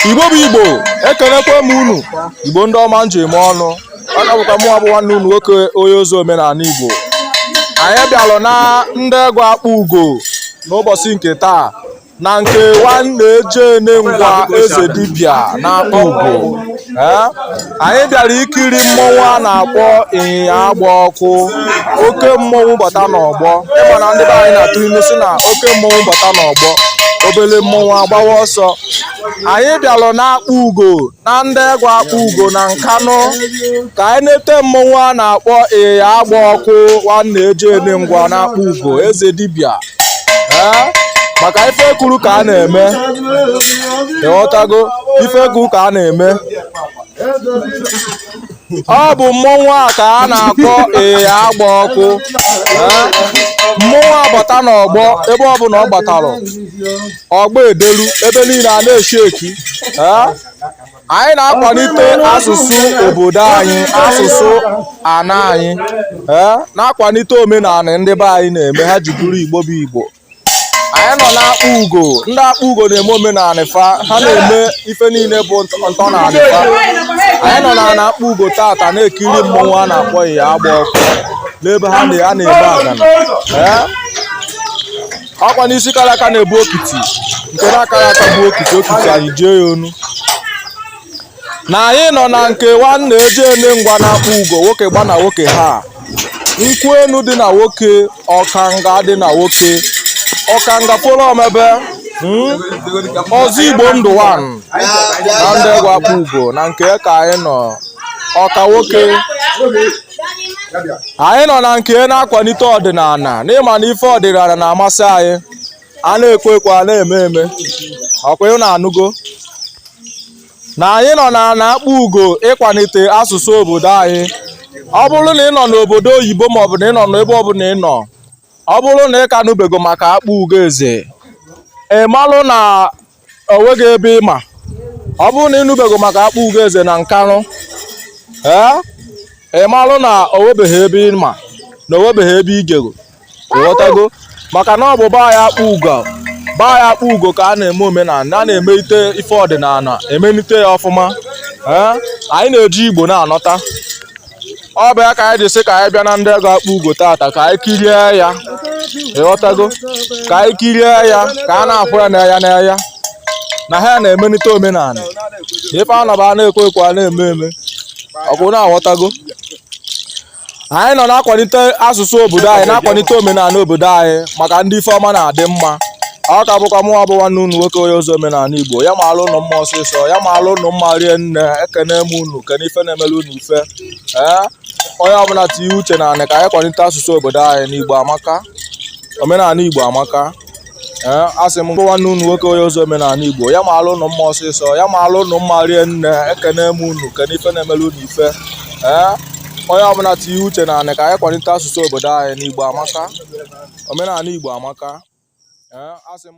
igbo bụ igbo ekelekwa m unu igbo ndị ọma m ji eme ọnụ ọ ka bụkwa mụwa bụ nwanne unu nwoke onye ozi omenala igbo anyị bịalụ na ndiegu akpugo n'ụbọchị nke taa na nke nwannaji ene ngwa eze dibịa na akpugo anyị bịara ikiri mmọnwụ a na-akpọ iyi agba ọkụ oke mmọnwụ bata n'ọgbọ ị ma na ndị be anyị na-atụ ilu sị na oke mmọnwụ bata n'ọgbọ obele mmọnwụ agbawa ọsọ anyị bịalụ n'akpugo na ndiegu akpugo na nkanụ ka anyị nete mmọnwụ a na-akpọ iyi agba ọkụ nwannaji ene ngwa n'akpugo eze dibịa ee maka ife e kwuru ka a na-eme ị ghọtago ife e kwuru ka a na-eme ọ bụ mmọnwụ a ka a na-akpọ iyi agba ọkụ mmọnwụ a gbata n'ọgbọ ebe ọ bụla ọ gbatara ọgbọ edelu ebe niile a na-eshi eki anyị na-akwalite asụsụ obodo anyị asụsụ ana anyị na-akwalite omenala ndị be anyị na-eme ha ji bụrụ igbo bụ igbo anyị nọ n'akpugo ndị akpugo na-eme omenala fa ha na-eme ife niile bụ ntọnanị fa anyị nọ na na akpugo tata na-ekiri mmọnwụ a na-akpọ iyi agba ọkụ n'ebe ha na a na-eme agana ee ọkwa na isi kara aka na-ebu okiti nke na-akara aka bụ okiti okiti anyị ji ya onu na anyị nọ na nke nwannaji ene ngwa n'akpugo nwoke gba na nwoke ha nkwụ enu dị na nwoke ọkanga dị na nwoke ọkanga folo omebe hmm? ọzọ igbo ndụ one na ndiegu akpugo na nke ka anyị nọ ọka nwoke anyị nọ na nke na-akwalite ọdịnala na ị ma na ife ọdịnala na-amasị anyị a na-ekwu ekwu a na-eme eme ọkwa ị na-anụgo na anyị nọ na na akpugo ịkwalite asụsụ obodo anyị ọ bụrụ na ị nọ n'obodo oyibo maọbụ na ị nọ n'ebe ọbụla ị nọ ọ bụrụ na ị ka nụbego maka akpugo eze ị malụ na o nweghị ebe ị ma ọ bụrụ na ị nụbego maka akpugo eze na nkanụ ee ị malụ na o nwebeghị ebe ị ma na o nwebeghị ebe i jego ị ghọtago maka na ọ bụ baa ya akpugo baa ya akpugo ka a na-eme omenala a na-emelite ife ọdịnala emelite ya ọfụma ee anyị na-eji igbo na-anọta ọ bụ ya ka anyị ji sị ka anyị bịa na ndiegu akpugo tata ka anyị kirie ya ị ghọtago ka anyị kirie ya ka a na-afụ ya n'anya n'anya na ha na-emelite omenala ife anọba a na-ekwu ekwu a na-eme eme ọkwa ị na-aghọtago anyị nọ na-akwalite asụsụ obodo anyị na-akwalite omenala obodo anyị maka ndị ife ọma na-adị mma ọ ka bụkwa mụnwa bụ nwanne unu nwoke onye ozi omenala igbo ya maalụ ụnụ mma ọsịsọ ya maalụ ụnụ mma rie nne ekene m unu kene ife na-emere unu ife ee onye ọbụla tinye uche n'anị ka anyị kwalite asụsụ obodo anyị n'igbo amaka omenala igbo amaka ee asị m nwanne unu nwoke onye ozi omenala igbo ya maalụ ụnụ mma ọsịsọ ya maalụ ụnụ mma rie nne ekene m unu kene ife na-emere unu ife ee onye ọbụla tinye uche n'anị ka anyị kwalite asụsụ obodo anyị n'igbo amaka omenala igbo amaka ee asị m